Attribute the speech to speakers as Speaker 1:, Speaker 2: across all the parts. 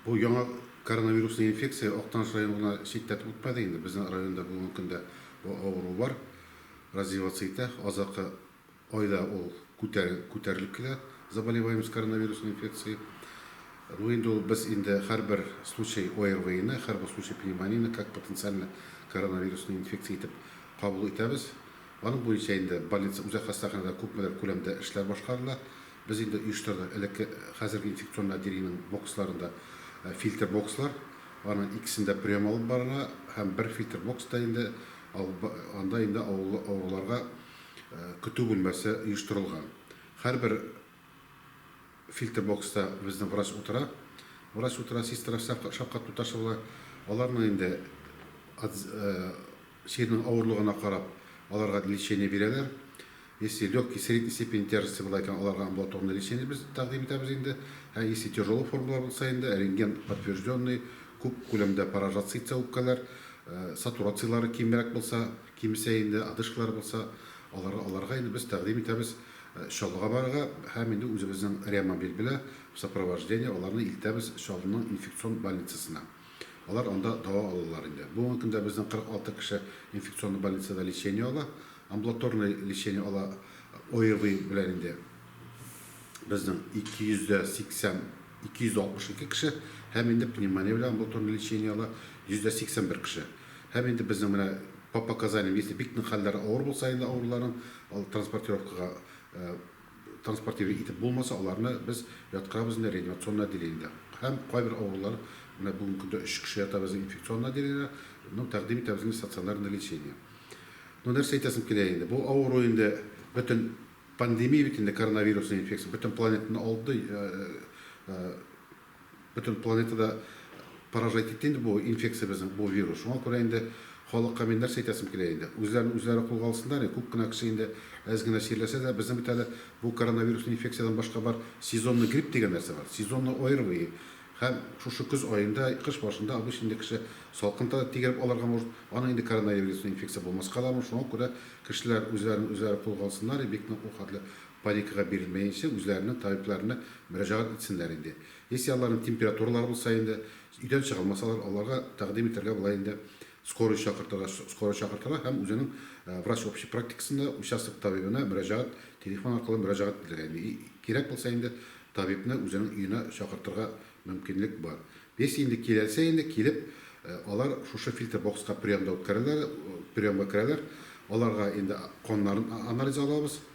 Speaker 1: Бу яңа коронавируслы инфекция Актаныш районын гына читләтеп үтмәде инде, безнең районда бүгенге көндә бу авыру бар, развиваться итә, азаккы айда ул күтәрелеп килә, заболеваемость коронавируслы инфекцией. Ну инде ул без инде һәрбер случай ОРВИны, һәрбер случай пневмонияне как потенциальный коронавируслы инфекция итеп кабул итәбез. Аның буенча инде больница, үзәк хастаханәдә күпмедер күләмдә эшләр башкарыла, Без инде оештырдык элекке, хәзерге инфекцион отделениенең боксларында фильтр бокслар. Аның икесен дә прием алып барырга һәм бер фильтр бокста инде анда инде авыллы авыруларга көтү бүлмәсе оештырылган. Һәрбер фильтр бокста безнең врач утыра. Врач утыра, сестра шаккату ташлый була. Аларның инде Чирнең авырлыгына карап, аларга лечение бирәләр. Если легкий, средний степень тяжести була икән, аларга амбулаторный лечение без тәкъдим итәбез инде. Ә если тяжелый формалар булса инде, рентген подтвержденный, күп күләмдә поражаться итсә үпкәләр, сатурацияләре кимрәк булса, кимесә инде, одышкалар булса, алар, аларга инде без тәкъдим итәбез Чаллыга барырга һәм инде үзебезнең реамобиль белә в сопровождении аларны илтәбез Чаллының инфекцион больницасына. Алар анда дава алалар инде. Бүгенге көндә безнең 46 кеше инфекционный больницада лечение ала. Амбулаторный лечение ала ОРВИ белән инде безнең 280, 262 кеше һәм инде пневмония белән амбулаторный лечение ала 181 кеше. Һәм инде безнең менә по показаниям, если бик нык хәлләре авыр булса инде авыруларның, ал транспортировкага Транспортировать итеп булмаса, аларны без яткырабыз инде реанимационный отделениедә. Һәм кайбер авырулар, менә бүгенге көндә өч кеше ята безнең инфекционный отделениедә, ну, тәкъдим итәбез инде стационарный лечение. Ну, нәрсә әйтәсем килә инде, бу авыру инде бөтен пандемия бит инде, коронавирусный инфекция бөтен планетаны алды. Бөтен планетада поражать итте инде бу инфекция безнең, бу вирус. Шуңа күрә инде халыкка мин нәрсә әйтәсем килә инде, үзләрен үзләре кулга алсыннар инде, күп кенә кеше инде әз генә чирләсә дә, безнең бит әле бу коронавирусный инфекциядән башка бар сезонный грипп дигән нәрсә бар, сезонный ОРВИ, һәм шушы көз аенда, кыш башында обычно инде кеше салкын да тигереп алырга может, аны инде коронавирусный инфекция булмаска да может, шуңа күрә кешеләр үзләрен үзләре кулга алсыннар и бик нык ул хәтле Паникага бирелмәенчә, үзләренең табибларына мөрәҗәгать итсеннәр инде. Если аларның температуралары булса инде, өйдән чыга алмасалар, аларга тәкъдим итәргә була инде скорый чакыртырга, скорый чакыртырга һәм үзенең врач общей практикасында участок табибына мөрәҗәгать, телефон аркылы мөрәҗәгать итәргә инде. И, кирәк булса инде табибны үзенең өенә чакыртырга мөмкинлек бар. Если инде киләлсә инде, килеп, алар шушы фильтр бокска приемда үткәрәләр, приемга керәләр, аларга инде каннарын анализ алабыз.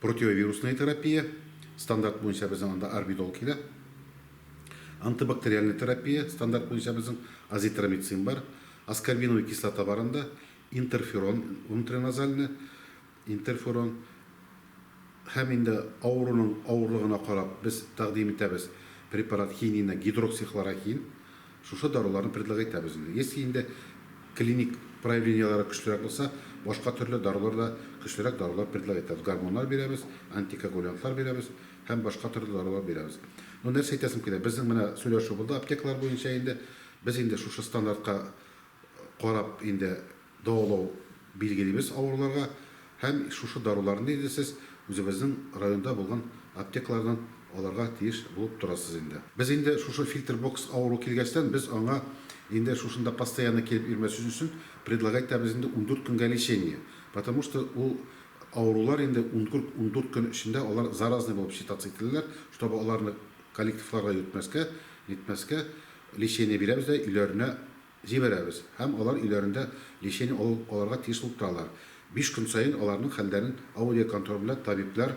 Speaker 1: Противовирусная терапия, стандарт буенча безнең анда Арбидол килә. Антибактериальная терапия, стандарт буенча безнең Азитромицин бар. Аскорбиновая кислота бар анда. Интерферон, внутриназальный интерферон. Һәм инде авыруның авырлыгына карап без тәкъдим итәбез препарат хинина, гидроксихлорохин. Шушы даруларны предлог итәбез инде. Если инде клиник проявлениеләре көчлерәк булса, башка төрле дарулар да, көчлерәк дарулар предлог итәбез. Гормоннар бирәбез, антикоагулянтлар бирәбез һәм башка төрле дарулар бирәбез. Ну, нәрсә әйтәсем килә, безнең менә сөйләшү булды аптекалар буенча инде. Без инде шушы стандартка карап инде Дәвалау билгелибез авыруларга һәм шушы даруларны инде сез үзебезнең районда булган аптекалардан алырга тиеш булып торасыз инде. Без инде шушы фильтр-бокс авыру килгәчтән без аңа инде шушында постоянно килеп йөрмәсен өчен предлагайтабыз инде ундүрт көнгә лечение, потому что ул авырулар инде ундүрт көн эчендә алар заразный булып считаться ителәләр, чтобы аларны коллективларга йөртмәскә, нитмәскә, лечение бирәбез дә өйләренә Җибәрәбез һәм алар өйләрендә лечение алу алырга тиеш булып торалар. Биш көн саен аларның хәлләрен аудиоконтроль белән табиблар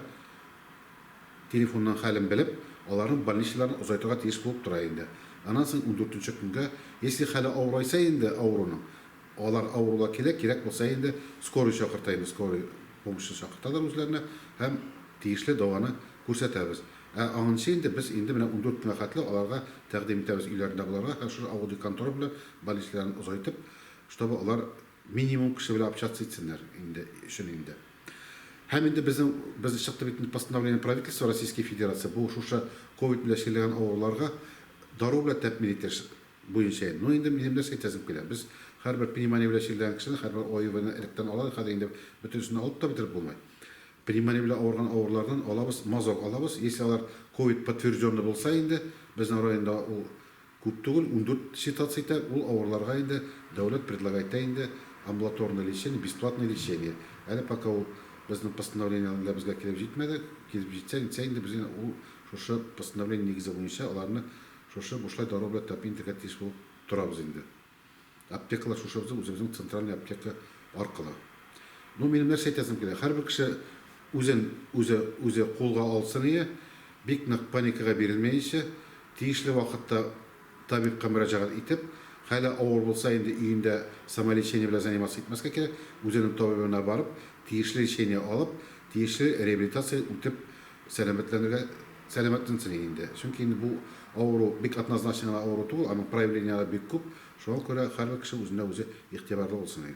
Speaker 1: телефоннан хәлен белеп, аларның больничныйларына озайтырга тиеш булып тора инде. Аннан соң ундүртенче көнгә, если хәле авырайса инде авыруның, алар авырулар килә, кирәк булса инде скорый чакырта инде, скорый помощьны чакырталар үзләренә һәм тиешле дәваны күрсәтәбез. Ә аннсы инде без инде менә ундүрт көнгә хәтле аларга тәкъдим итәбез өйләрендә булырга һәм шушы авыл деканторы белән баллистларын озайтып, чтобы алар минимум кеше белән общаться итсеннәр инде өчен инде. Һәм инде безнең, без чыкты бит инде постановление Правительства Российской Федерации, бу шушы ковид белән чирләгән авыруларга дару белән тәэмин итеш буенча инде. Ну инде минем нәрсә әйтәсем килә, без һәрбер пневмония белән чирләгән кешене һәрбер ОИВны электән алалар, хәзер инде бөтенесен алып та бетереп булмый. Пневмония белән авырган авырулардан алабыз, мазок алабыз, если алар ковид подтвержденный булса инде, безнең районда ул күп түгел, ундүрт ситуация итә, ул авыруларга инде дәүләт предлагайтә инде амбулаторный лечение, бесплатное лечение. Әле пока ул безнең постановление алда безгә килеп җитмәде, килеп җитсә нитсә инде без янә ул шушы постановление нигезе буенча аларны шушы бушлай дару белән тәэмин итәргә тиеш булып торабыз инде. Аптекалар шушы безнең үзебезнең центральный аптека аркылы. Ну, минем нәрсә әйтәсем килә, һәрбер кеше үзен үзе үзе кулга алсын ие, бик нык паникага бирелмәенчә, тиешле вакытта табибка мөрәҗәгать итеп, хәле авыр булса, инде өендә самолечение белән заниматься итмәскә кирәк, үзенең табибына барып, тиешле лечение алып, тиешле реабилитация үтеп, Сәламәтләнергә сәламәтләнсен инде. Чөнки инде бу авыру бик однозначный гына авыру түгел, аның проявлениеләре бик күп. Шуңа күрә һәрбер кеше үзенә үзе игътибарлы булсын.